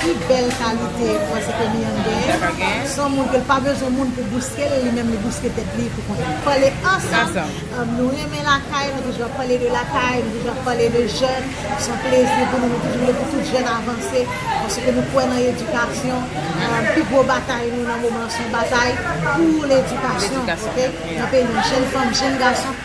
Pi bèl kalite mwen se ke Mian gen, son moun ke l pa bezwen moun pou bouske l, li menm li bouske tèt li pou kont li. Pale ansanm, nou renmen lakay, nou toujou ap pale de lakay, nou toujou ap pale de jèn, son plezi pou nou, nou toujou vle pou tout jèn avanse, paske nou kwè nan edikasyon, pi gwo batay nou nan moman an son batay pou ledikasyon, ok, nan peyi an, jèn fanm, jèn gason.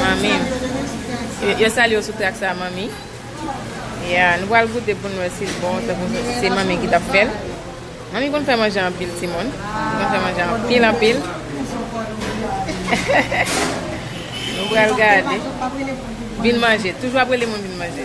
Manmi. Yo salye w sou trak sa manmi. Ya, nou pral goute pou n wè si l bon tankou se manmi ki t ap fè l. Manmi konn fè manje anpil timoun. Li konn fè manje anpil anpil. Nou pral gade. Vin manje. Toujou ap rele moun vin manje.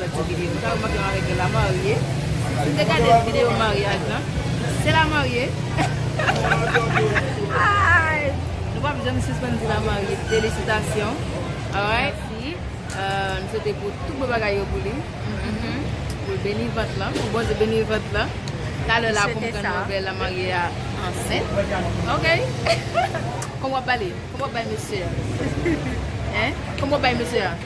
nan ti video m sa yo manke mare gen la marye si te gade video maryaj lan se la marye aayy nou pap janm sispann di la marye felisitasyon alright m swete pou tout bon bagay yo pou li pou l beni vant lan pou Bondye beni vant lan talè la pou m pran nouvèl la marye a ansent ok kòman w ap pale kòman w ap bay mesye a kòman w ap bay mesye a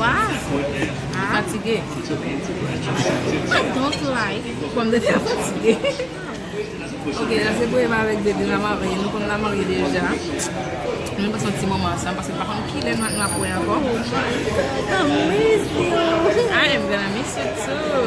Waw li fatige. I don't like pòm de tè fatige. Ok la se premye mwen avèk Dede na marye nou konn la marye deja. Nou pase yon ti moman ansanm paske m pa konn kilè nou ap wè ankò. I miss you. I am gonna miss you too.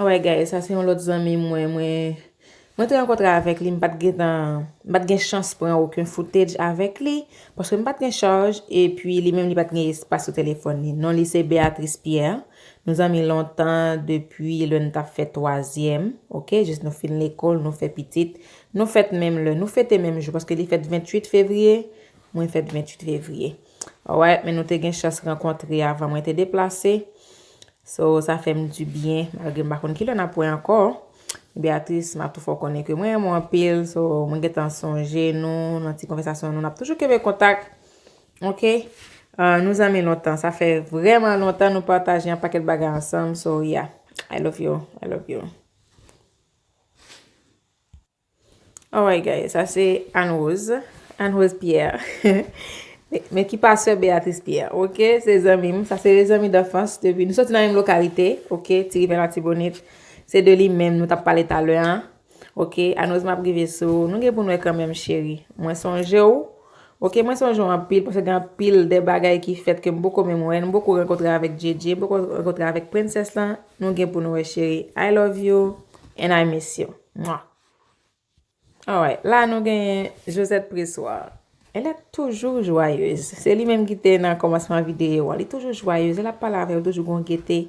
Alright guys sa se yon lòt zanmi mwen mwen te rankontre avèk li m pat gentan m pat gen chans pran oken footage avèk li paske m pat gen charge epi li menm li pat gen espas sou telefòn li non li se Béatrice Pierre nou zanmi lontan depi lè nou tap fè twazyèm ok jis nou fin lekòl nou fè pitit nou fèt menm lè nou fete menm jou paske li fèt 28 février mwen fèt 28 février Alright men nou te gen chans rankontre avan mwen te deplase. So sa fè m di byen malgre m pa konn ki lè n ap wè ankò. Beatrice m ap tou fè w konnen ke mwen renmen w anpil. So mwen gen tan sonje nou nan ti konvèsasyon nou. N ap toujou kenbe kontak. Ok. Nou zanmi lontan. Sa fè vrèman lontan nou pataje yon pakèt bagay ansanm. So yeah. I love you. I love you. Alright guys, sa se Anne Rose, Anne Rose Pierre, men ki pa sè Béatrice Pierre, ok, se zanmi m, sa se de zanmi danfans, depi nou soti nan menm lokalite, ok, ti rive la ti bonit, se de li menm nou tap pale talè an, ok, Anne Rose map rive sou ou, nou gen pou nou e kanmenm cheri, mwen sonje ou, ok, mwen sonje ou anpil, pwese gen anpil de bagay ki fèt ke m boko menm wè, nou boko renkotre avèk Djedje, nou boko renkotre avèk Princess lan, nou gen pou nou e cheri, I love you, and I miss you. Mwah. Alright, la nou genyen Josette Pressoir. Elle est toujours joyeuse. Se li menm ki te nan komansman videyo a. Li toujou joyeuse. Lè l ap pale avè w, toujou gon gete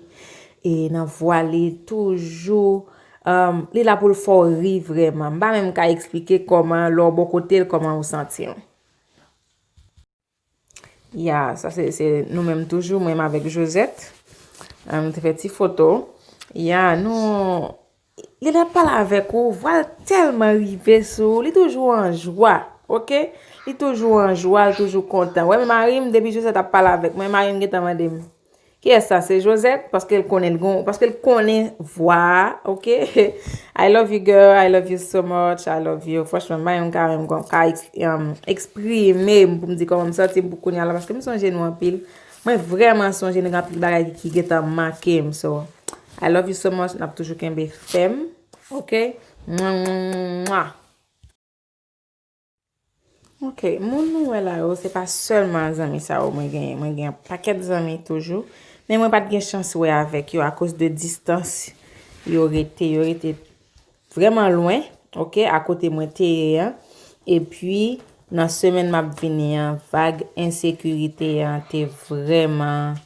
e nan vwa li. Toujou euh, li la pou l fè w ri vrèman. M pa menm ka eksplike kòman lè w bò kote l kòman ou santi w. Ya sa se nou menm toujou mwen avèk Josette nou te fè ti foto ya nou lè lap pale avèk ou vwal tèlman rive sou ou li toujou an jwa ok li toujou an jwa li toujou kontan wè marim depi Josette ap pale avèk mwen marim gentan mandem. Kiyès sa se Josette paske l konnen l gon paske l konnen vwa a ok I love you girl I love you so much I love you franchman m bay yon kare m konn pa eksprime m pou m di kòman m santi m pou kounya la paske m sonje nou anpil mwen vrèman sonje nou gen anpil bagay ki gentan make m so I love you so much n ap toujou kenbe fèm ok mwah mwah mwah mwah. Ok, moun nou wè la yo se pa sèlman zanmi sa yo mwen genyen. Mwen gen pakèt zanmi toujou. Men mwen pat gen chans wè avèk yo akos de distans yo rete. Yo rete vreman lwen, ok, akote mwen teye an. E pi, nan semen map vini an, vag ensekirite an te vreman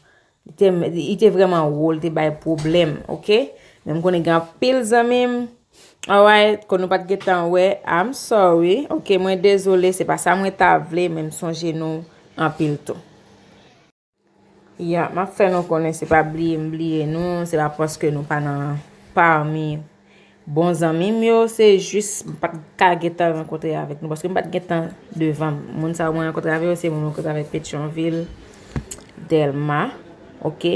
Li te vreman wo li te bay pwoblem ok men m konnen gen anpil zanmi m alright kon nou pat gen tan we I'm sorry ok mwen dezole se pa sa mwen ta vle men m sonje nou anpil tou ya map fè nou konnen se pa bliye m bliye nou se pa paske nou pa nan parmi Bon zanmi m yo se jis m pat ka gentan rankontre avèk nou paske m pat gentan devan m. Moun sa yo mwen rankontre avè yo se moun mwen rankontre avèk Petyonvil, Dèlma, ok.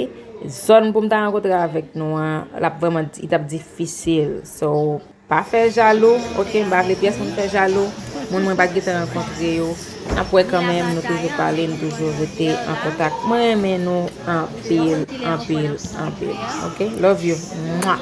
Zòn pou m ta rankontre avèk nou an, l ap vrèman, li t ap difisil. So, pa fè jalou, ok, m pa vle pyès moun fè jalou, moun mwen pat gentan rankontre yo. Nap wè kanmenm nou toujou pale nou toujou rete an kontak mwen renmen nou anpil anpil anpil ok love you mwah.